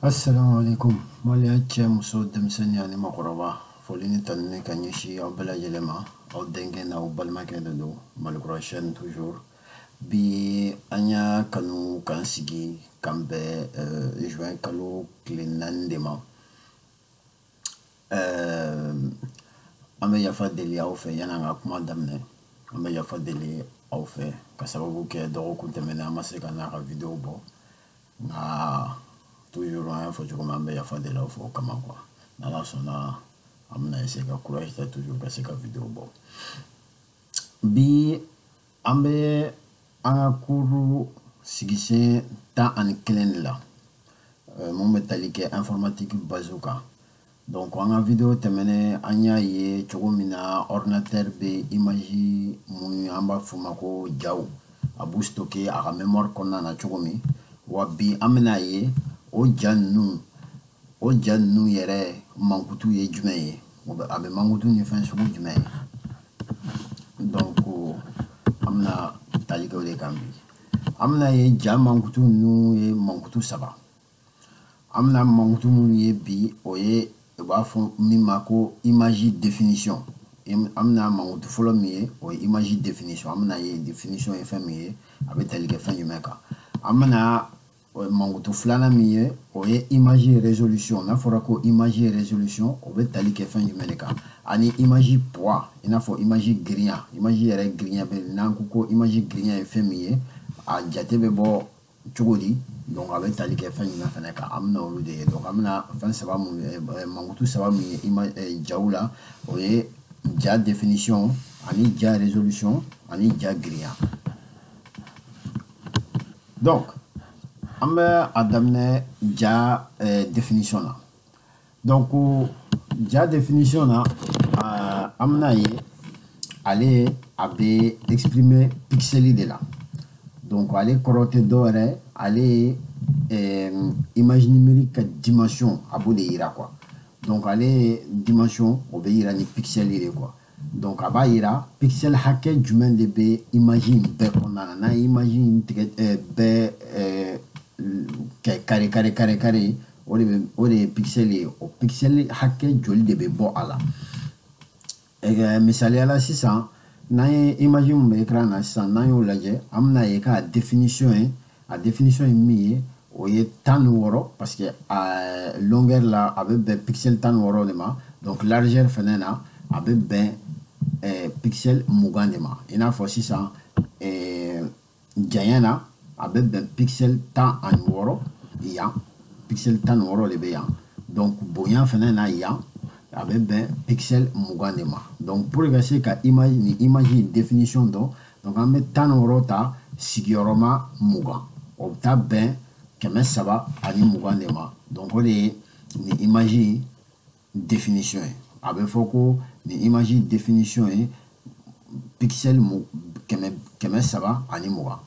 Assalamu alaikum Mali a cɛ muso denmisɛnnin ani makɔrɔba foli ni tanuni ka ɲɛsin aw bɛɛ lajɛlen ma aw denkɛ n'aw balimakɛ de don malikura chaîne toujours bi an y'a kanu k'an sigi k'an bɛn euh, juin kalo tile naani de ma euh, an bɛ yafa deli aw fɛ yan'an ka kuma daminɛ an bɛ yafa deli aw fɛ ka sababu kɛ dɔgɔkun tɛmɛnen an ma se ka na ka video bɔ nka toujours an y'a fɔ cogo min an bɛ yafa deli aw fɛ o kama quoi n'ala sɔnna an bɛna essayer ka courage ta toujours ka se ka video bɔ bi an bɛ an ka cours sigisen tan ani kelen de la mun bɛ tali kɛ informatique base kan donc an ka video tɛmɛnen an y'a ye cogo min na ordinateur bɛ image mun an b'a f'u ma ko jaw a b'u stocker a ka mémoire kɔnɔna na cogo min wa bi an bɛna ye o ja ninnu o ja ninnu yɛrɛ mankutu ye jumɛn ye a bɛ mankutu ni fɛn sugu jumɛn ye donc an bɛna tali kɛ o de kan bi an bɛna ye ja mankutu ninnu ye mankutu saba an bɛna mankutu minnu ye bi o ye u b'a fɔ min ma ko image définition an bɛna mankutu fɔlɔ min ye o ye image définition an bɛna ye définition ye fɛn min ye a bɛ tali kɛ fɛn jumɛn kan an bɛna mankutu filanan min ye o ye image résolution n'a fɔra ko image résolution o bɛ tali kɛ fɛn jumɛn de kan ani image poids i n'a fɔ image girinya image yɛrɛ girinya bɛ n'an ko ko image girinya ye fɛn min ye a jate bɛ bɔ cogo di donc a bɛ tali kɛ fɛn jumɛn fɛnɛ kan an bɛna olu de ye donc an bɛna fɛn saba mun ye eh, mankutu saba min ye ima eh, jaw la o ye ja définition ani ja résolution ani ja girinya donc an bɛ a daminɛ ja eh, définition na donc ja définition na uh, an bɛna ye ale a bɛ exprimer pixeli de la donc ale kɔrɔ tɛ dɔ wɛrɛ ale ye eh, image numérique ka dimension a b'o de yira quoi donc ale dimension o bɛ yira ni pixeli de quoi donc a b'a yira pixel hakɛ jumɛn de bɛ image in bɛɛ kɔnɔna na n'an ye image in tigɛ ɛɛ eh, bɛɛ ɛɛ eh, kɛ carré carré carré carré o de bɛ o de ye pixel ye o pixel hakɛ joli de bɛ bɔ a la ɛɛ misaliya la sisan n'an ye image min bɛ écran na sisan n'an y'o lajɛ an bɛna ye k'a définition ye a définition ye min ye o ye tan ni wɔɔrɔ parce que euh, longueur la a bɛ bɛn pixel tan ni wɔɔrɔ de ma donc largeur fɛnɛ na a bɛ bɛn euh, pixel mugan de ma i n'a fɔ sisan euh, janya na a bɛ bɛn pixel tan ani wɔɔrɔ yan pixel tan ni wɔɔrɔ de bɛ yan donc bonya fɛnɛ na yan a bɛ bɛn pixel mugan de ma donc pour ka se ka image nin image in définition dɔn donc an bɛ tan ni wɔɔrɔ ta sigiyɔrɔma mugan o bɛ taa bɛn kɛmɛ saba ani mugan de ma donc o de ye nin image in définition ye a bɛ fɔ ko nin image définition ye pixel mu kɛmɛ kɛmɛ saba ani mugan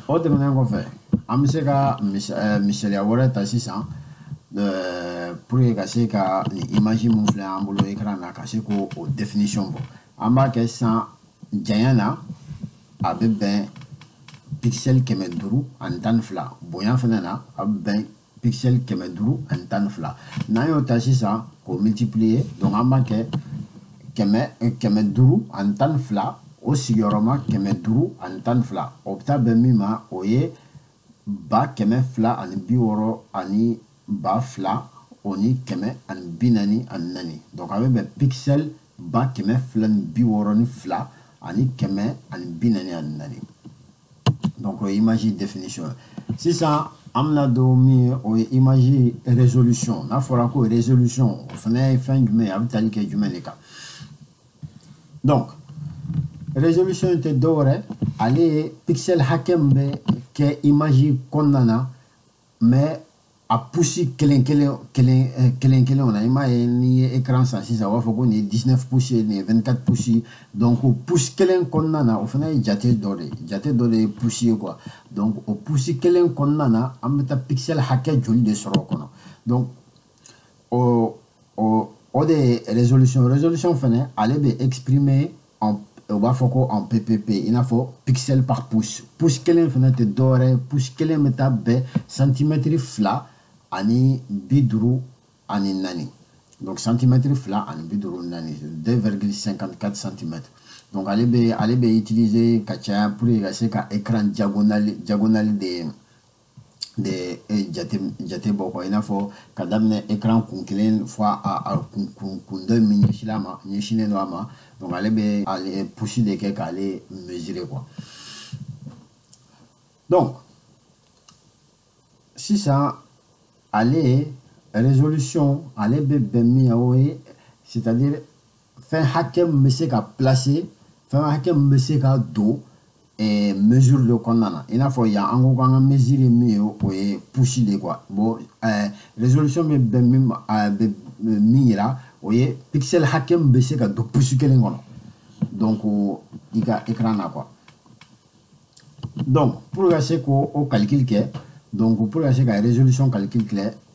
o tɛmɛnen kɔfɛ an bɛ se ka eh, misaliya wɛrɛ ta sisan eh, pour que ka se ka nin image mun filɛ an bolo ekran na ka se k'o o définition bɔ an b'a kɛ san janya na a bɛ bɛn pixel kɛmɛ duuru ani tan ni fila bonya fɛnɛ na a bɛ bɛn pixel kɛmɛ duuru ani tan ni fila n'an y'o ta sisan k'o multiplier donc an b'a kɛ kɛmɛ duuru ani tan ni fila o sigiyɔrɔma kɛmɛ duuru ani tan ni fila o bɛ taa bɛn min ma o ye ba kɛmɛ fila ani bi wɔɔrɔ ani ba fila o ni kɛmɛ ani bi naani ani naani donc a bɛ bɛn pixel ba kɛmɛ fila ni bi wɔɔrɔ ni fila ani kɛmɛ ani bi naani ani naani donc o ye image définition ye sisan an bɛna don min ye o ye image résolution n'a fɔra ko résolution o fana ye fɛn jumɛn ye a bɛ tali kɛ jumɛn de kan donc résolution in tɛ dɔwɛrɛ ale ye pixel hakɛ min bɛ kɛ image kɔnɔna na mais a pouce kelen kelen kelen eh, kelen kelenw na i m'a ye n'i ye écran san sisan u b'a fɔ ko nin ye 19 pouces ye nin ye 24 pouces ye donc o pouce kelen kɔnɔna na o fana ye jate dɔ de ye jate dɔ de ye pouce ye quoi donc o pouce kelen kɔnɔna na an bɛ taa pixel hakɛ joli de sɔrɔ o kɔnɔ donc o o o de ye résolution résolution fɛnɛ ale bɛ exprimer en u b'a fɔ ko en ppp i n'a fɔ pixel par pouce pouce kelen fɛnɛ tɛ dɔwɛrɛ pouce kelen bɛ taa bɛn santimɛtiri fila ani bi duuru ani naani donc santimɛtiri fila ani bi duuru naani deux virgule cinquante quatre santimɛtiri donc ale bɛ ale bɛ utiliser ka caya pour que ka se ka écran diagonale diagonale de de e, jate jate bɔ quoi i n'a fɔ ka daminɛ ekran kun kelen fo a kun kun kun dɔ min ɲɛsinla a ma ɲɛsinnen don a ma donc ale bɛ ale pouce de kɛ k'ale mesurer quoi donc sisan ale résolution ale bɛ bɛn min ye o ye c'est-à-dire fɛn hakɛ min bɛ se ka placer fɛn hakɛ min bɛ se ka don eh, mesure de kɔnɔna na i n'a fɔ yan an ko k'an ka mesure ye min ye o ye pouce de quoi bon eh, résolution bɛ bɛn min ma eh, bɛ min yira o ye pixel hakɛ min bɛ se ka don pouce kelen kɔnɔ donc i ka écran na quoi donc pour ka se k'o o calcul kɛ donc pour ka se ka résolution calcul kɛ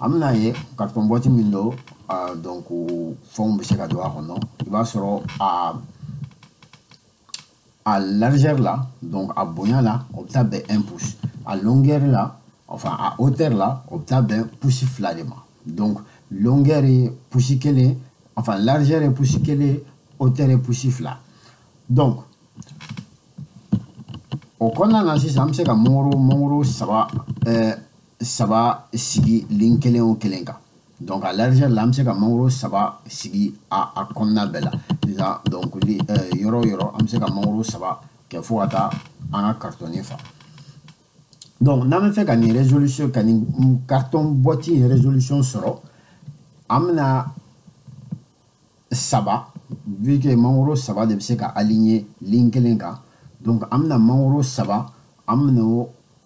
an bɛna ye carton boîte min don donc fɛnw bɛ se ka don a kɔnɔ i b'a sɔrɔ a a largeur la donc a bonya la o bɛ taa bɛn un pouce a longueur la enfin a hauteur la o bɛ taa bɛn pouce fila de ma donc longueur ye pouce kelen enfin largeur ye pouce kelen hauteur ye pouce fila donc o kɔnɔna na sisan an bɛ se ka mangoro mangoro saba ɛɛ saba sigi ligne kelen o kelen kan donc a largeur la an bɛ se ka mangoro saba sigi a a kɔnɔna bɛɛ la sisan donc li euh, yɔrɔ o yɔrɔ an bɛ se ka mangoro saba kɛ fo ka taa an ka carton in fa donc n'an b'a fɛ ka nin résolution ka nin carton boîte in résolution sɔrɔ an bɛna saba vu que mangoro saba de bɛ se ka aligner ligne kelen kan donc an bɛna mangoro saba an bɛna o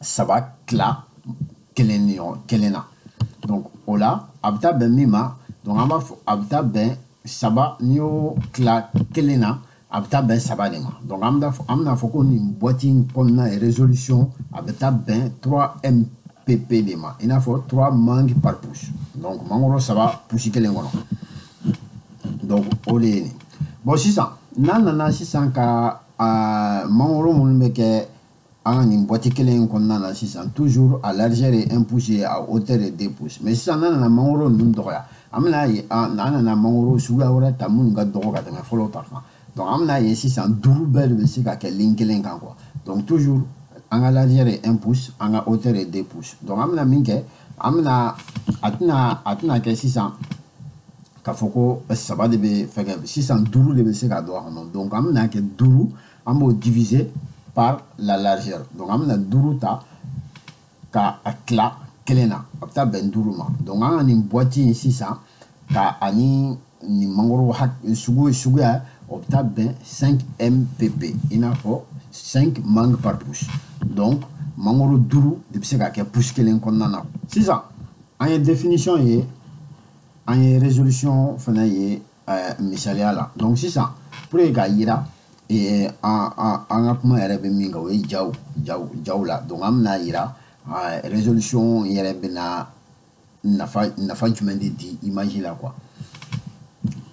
saba tila kelen na donc o la a bɛ taa bɛn min ma donc an b'a fɔ a bɛ taa bɛn saba n'i y'o tila kelen na a bɛ taa bɛn saba de ma donc an bɛna fɔ an bɛna fɔ ko nin boîte in kɔnɔna ye résolution a bɛ taa bɛn 3 mpp de ma i n'a fɔ 3 mangue par pouce donc mangoro saba pouce kelen kɔnɔ donc o de ye nin bon sisan n'an nana sisan ka uh, mangoro minnu bɛ kɛ an ka nin boîte kelen in kɔnɔna na sisan toujours a largeur ye un pouce ye a hauteur ye deux pouces mais sisan n'an nana mangoro ninnu dɔgɔya an bɛna ye an nana mangoro suguya wɛrɛ ta minnu ka dɔgɔ ka tɛmɛ fɔlɔ ta kan donc an bɛna ye sisan duuru bɛɛ de bɛ se ka kɛ ligne kelen kan quoi donc toujours an ka largeur ye un pouce an ka hauteur ye deux pouces donc an bɛna min kɛ an bɛna a tɛna a tɛna kɛ sisan k'a fɔ ko saba de bɛ fɛnkɛ sisan duuru de bɛ se ka don a kɔnɔ donc an bɛna kɛ duuru an b'o diviser par la largeur donc an bɛna duuru ta ka a tila kelen na a bɛ taa bɛn duuru ma donc an ka nin boîte in sisan ka ani nin mangoro sugu suguya o bɛ taa bɛn 5 mpp i n'a fɔ 5 mangue par pouce donc mangoro duuru de bɛ se ka kɛ pouce kelen kɔnɔna na sisan an ye définition ye an ye résolution fana ye eh, misaliya la donc sisan pour que k'a yira eh, an ka kuma yɛrɛ bɛ min kan o ye jaw jaw jaw la donc an bɛna yira eh, résolution yɛrɛ bɛna nafa nafa jumɛn de di image la quoi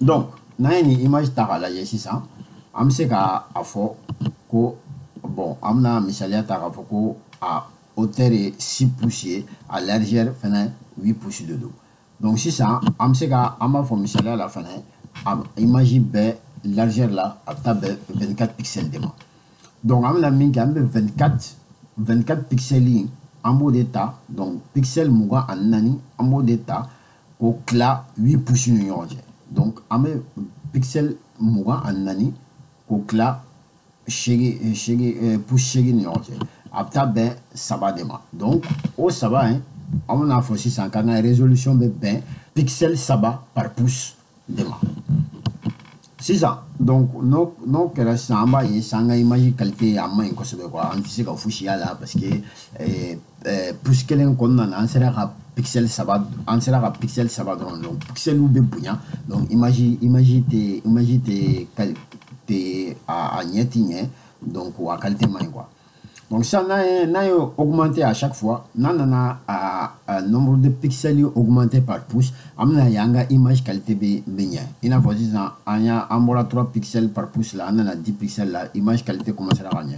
donc n'an ye nin image ta k'a lajɛ sisan an bɛ se ka a fɔ ko bon an bɛna misaliya ta k'a fɔ ko a hauteur ye 6 pouces ye a largeur fana 8 pouces de don donc sisan an bɛ se ka an b'a fɔ misaliya la fana image bɛɛ largeur la a bɛ taa bɛn 24 pixels de ma donc an bɛna min kɛ an bɛ 24 24 pixels in an b'o de ta donc pixel mugan ani naani an b'o de ta k'o tila 8 pouces ni ɲɔgɔn cɛ donc an bɛ pixel mugan ani naani k'o tila seegin seegin pouces seegin ni ɲɔgɔn cɛ a bɛ taa bɛn saba de ma donc o saba in an bɛna fɔ sisan k'an ka résolution bɛ bɛn pixel saba par pouce de ma sisan donc n'o n'o kɛra sisan an b'a ye sisan an ka image qualité a man ɲi kosɛbɛ quoi an tɛ se ka fosi y'a la parce que eh, pouce kelen kɔnɔna na an sera ka pixel saba an sera ka pixel saba dɔrɔn donc pixeliw bɛ bonya donc image image tɛ image tɛ tɛ a a ɲɛ tɛ ɲɛ donc a qualité man ɲi quoi donc sisan n'an ye n'an ye augmenter à chaque fois n'an nana a, a nombre de pixels ye augmenter par pouce an bɛna ye an ka image qualité bɛ bɛ ɲɛ i n'a fɔ sisan an y'a an bɔra 3 pixels par pouce la an nana 10 pixels la image qualité commencera ka ɲɛ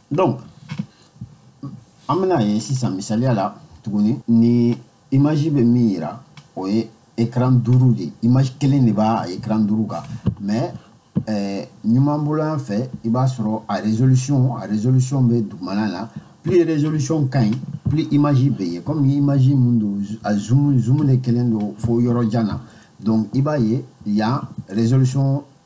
donc an bɛna ye sisan misaliya la tuguni ni image bɛ min yira o ye écran duuru de image kelen de b'a écran duuru kan mais eh, numan bolo yan fɛ i b'a sɔrɔ a résolution a résolution bɛ dugumana na plus résolution ka ɲi plus image bɛ ye comme ni image mun don a zoom zoom de kɛlen don fo yɔrɔ jan na donc i b'a ye yan résolution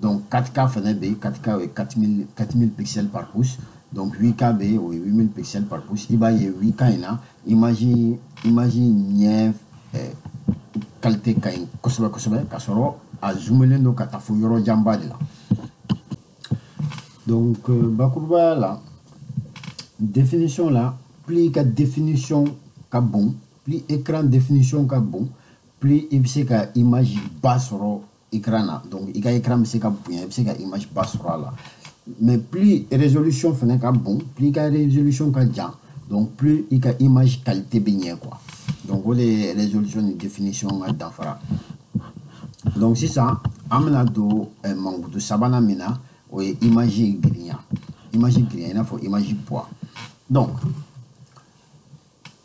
donc 4K fana bɛ yen 4K o ye 4000 4000 pixels par pouce donc 8K bɛ yen o ye 8000 pixels par pouce i b'a ye 8K in na image image ɲɛ eh, qualité ka ɲi kosɛbɛ kosɛbɛ ka sɔrɔ a zoomelen don ka taa fo yɔrɔ janba de la donc euh, bakurubaya la définition la plus i ka définition ka bon plus écran définition ka bon plus i bɛ se ka image ba sɔrɔ écran na donc i ka écran bɛ se ka bonya i bɛ se ka image ba sɔrɔ a la mais plus résolution fana ka bon plus i ka résolution ka jan donc plus i ka image qualité bɛ ɲɛ quoi donc o de ye résolution ni définition ka danfara donc sisan an bɛna don eh, mankutu sabanan min na o ye image girinya image girinya i n'a fɔ image poids donc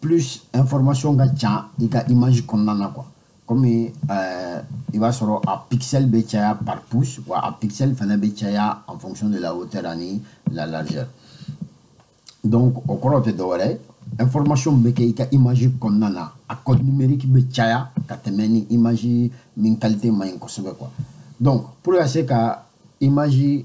plus information ka ca i ka image kɔnɔna na quoi comme euh, i b'a sɔrɔ a pixel bɛ caya par pouce wa a pixel fana bɛ caya en fonction de la hauteur ani la largeur donc o kɔrɔ tɛ dɔwɛrɛ information bɛ caya i ka image kɔnɔna na a code numérique bɛ caya ka tɛmɛ ni image min qualité man ɲi kosɛbɛ quoi donc pour ka se ka image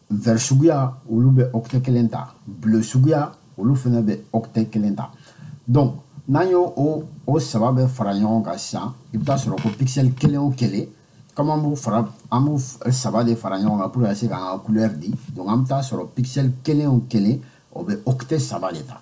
vert suguya olu bɛ octet kelen ta bleu suguya olu fana bɛ octet kelen ta donc n'an y'o o o saba bɛɛ fara ɲɔgɔn kan sisan i bɛ taa sɔrɔ ko pixel kelen o kelen comme an b'u saba de fara ɲɔgɔn kan pour ka se k'an ka couleur di donc an bɛ taa sɔrɔ pixel kelen o kelen o bɛ octet saba de ta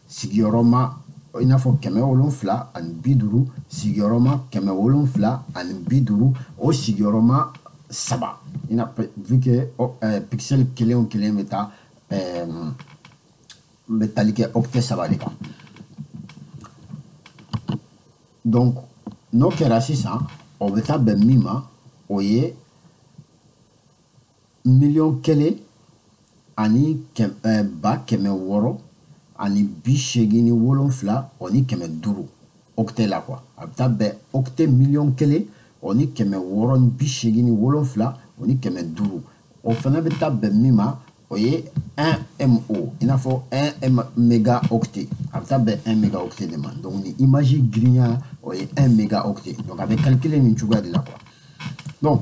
sigiyɔrɔma i n'a fɔ kɛmɛ wolonfila ani bi duuru sigiyɔrɔma kɛmɛ wolonfila ani bi duuru o sigiyɔrɔma saba i na vu que oh, eh, pixel kelen o kelen bɛ taa eh, bɛ tali kɛ octet saba de kan donc n'o kɛra sisan o bɛ taa bɛn min ma o ye miliyɔn kelen ani eh, ba kɛmɛ wɔɔrɔ ani bi seegin ni wolonfila o ni kɛmɛ duuru octet la quoi a bɛ taa bɛn octet miliyɔn kelen o ni kɛmɛ wɔɔrɔ ni bi seegin ni wolonfila o ni kɛmɛ duuru o fana bɛ taa bɛn min ma o ye 1 Mo i n'a fɔ 1 mégaoctet a bɛ taa bɛn 1 mégaoctet de ma donc nin image girinya o ye 1 mégaoctet donc a bɛ calculer nin cogoya de la quoi donc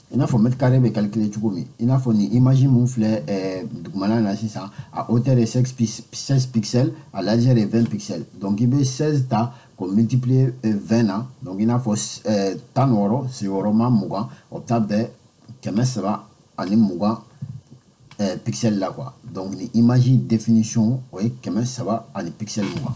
i n'a fɔ mètre carré bɛ calculer cogo min i n'a fɔ nin image min filɛ ɛɛ dugumana na sisan a hauteur ye 16 16 pixels a largeur ye 20 pixels donc i bɛ 16 ta k'o multiplier 20 euh, na donc i n'a fɔ ɛɛ tan ni wɔɔrɔ sigiyɔrɔma mugan o bɛ taa bɛn kɛmɛ saba ani mugan ɛɛ pixel la quoi donc nin image définition o ye kɛmɛ saba ani pixel mugan.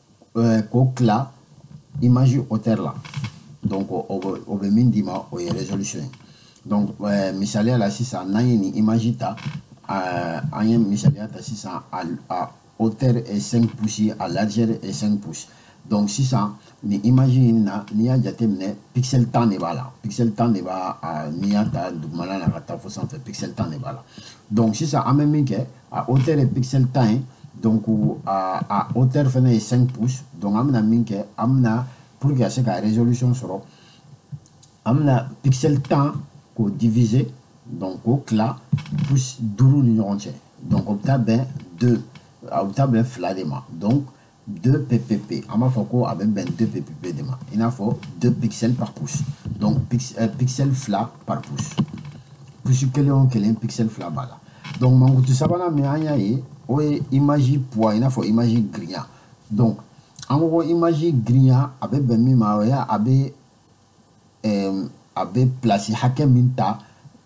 euh, k'o tila image hauteur la donc o bɛ min d'i ma o ye résolution ye donc euh, misaliya la sisan n'an ye nin image ta euh, an ye misaliya ta sisan a, a hauteur est 5 pouces a largeur est 5 pouces donc sisan nin image in na n'i y'a jateminɛ pixel tan de b'a la pixel tan de b'a n'i y'a ta dugumana na ka taa fo sanfɛ pixel tan de b'a la donc sisan an bɛ min kɛ a hauteur ye pixel tan ye donc a, a hauteur fana ye 5 pouces donc an bɛna min kɛ an bɛna pour que ka se ka résolution sɔrɔ an bɛna pixel tan k'o diviser donc k'o tila pouce duuru ni ɲɔgɔn cɛ donc o bɛ taa bɛn deux a bɛ taa bɛn fila de ma donc 2 ppp an b'a fɔ ko a bɛ bɛn 2 ppp de ma i n'a fɔ 2 pixel par pouce donc euh, pixel fila par pouce pouce kelen o kelen pixel fila b'a la donc mankutu sabanan min an y'a ye o ye image poids i n'a fɔ image girinya donc an ko ko image girinya a bɛ bɛn min ma o ye a bɛ ɛɛ a bɛ place hakɛ min ta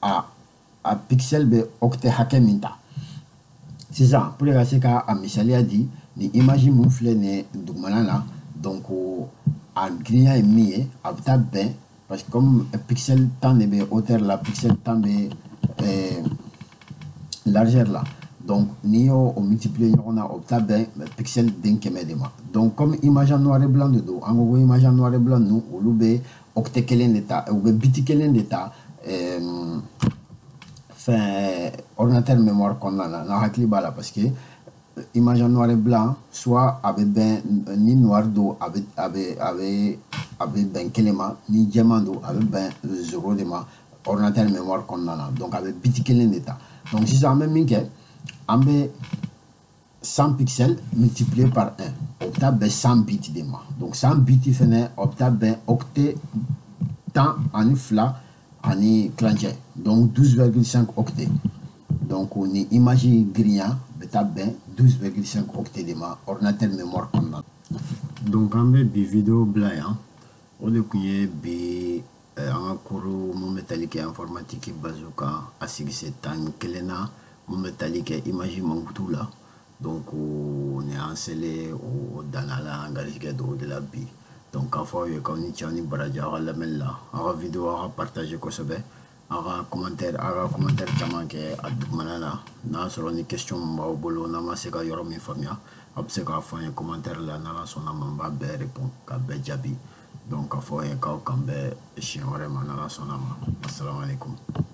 a a pixel bɛ octet hakɛ min ta sisan pour ka se ka a misaliya di nin image mun filɛ nin ye dugumana na donc a girinya ye min ye a bɛ taa bɛn parce que comme pixel tan de bɛ hauteur la pixel tan bɛ eh, largeur la donc n'i y'o o multiplier ɲɔgɔn na o bɛ taa bɛn pixel den kɛmɛ de ma donc comme image en noir et blanc de don an ko ko image en noir et blanc ninnu olu bɛ octet kelen de ta u bɛ biti kelen de ta ɛɛ fɛn ordinateur mémoire kɔnɔna na n'aw hakili b'a la parce que image en noir et blanc soit a bɛ bɛn ni noir don a bɛ a bɛ a bɛ a bɛ bɛn kelen ma ni jɛman don a bɛ bɛn zéro de ma ordinateur mémoire kɔnɔna na donc a bɛ biti kelen de ta donc sisan an bɛ min kɛ an bɛ 100 pixels multiplié par 1 o bɛ taa bɛn 100 biti de ma donc 100 biti fɛnɛ o bɛ taa bɛn octet tan ani fila ani tilancɛ donc 12,5 octet donc nin image girinya bɛ taa bɛn 12,5 octet de ma ordinateur mémoire kɔnɔna donc an bɛ bi video bila yan o de tun ye bi eh, an ka cours mun bɛ tali kɛ informatique basew kan a sigise tan ni kelennan mun bɛ tali kɛ image mankutu la donc ni an selen o danna la an garijɛgɛ dan o de la bi donc k'a fɔ aw ye k'aw ni ce aw ni baraji aw ka lamɛnni la aw ka video aw k'a partager kosɛbɛ aw ka commentaire aw ka commentaire caman kɛ a dugumana na n'a sɔrɔ ni question min b'aw bolo n'a ma se ka yɔrɔ min faamuya aw bɛ se k'a fɔ an ye commentaire la n'ala sɔnna ma n b'a bɛɛ répond k'a bɛɛ jaabi donc k'a fɔ aw ye k'aw k'an bɛn siɲɛ wɛrɛ ma n'ala sɔnna ma asalamualekum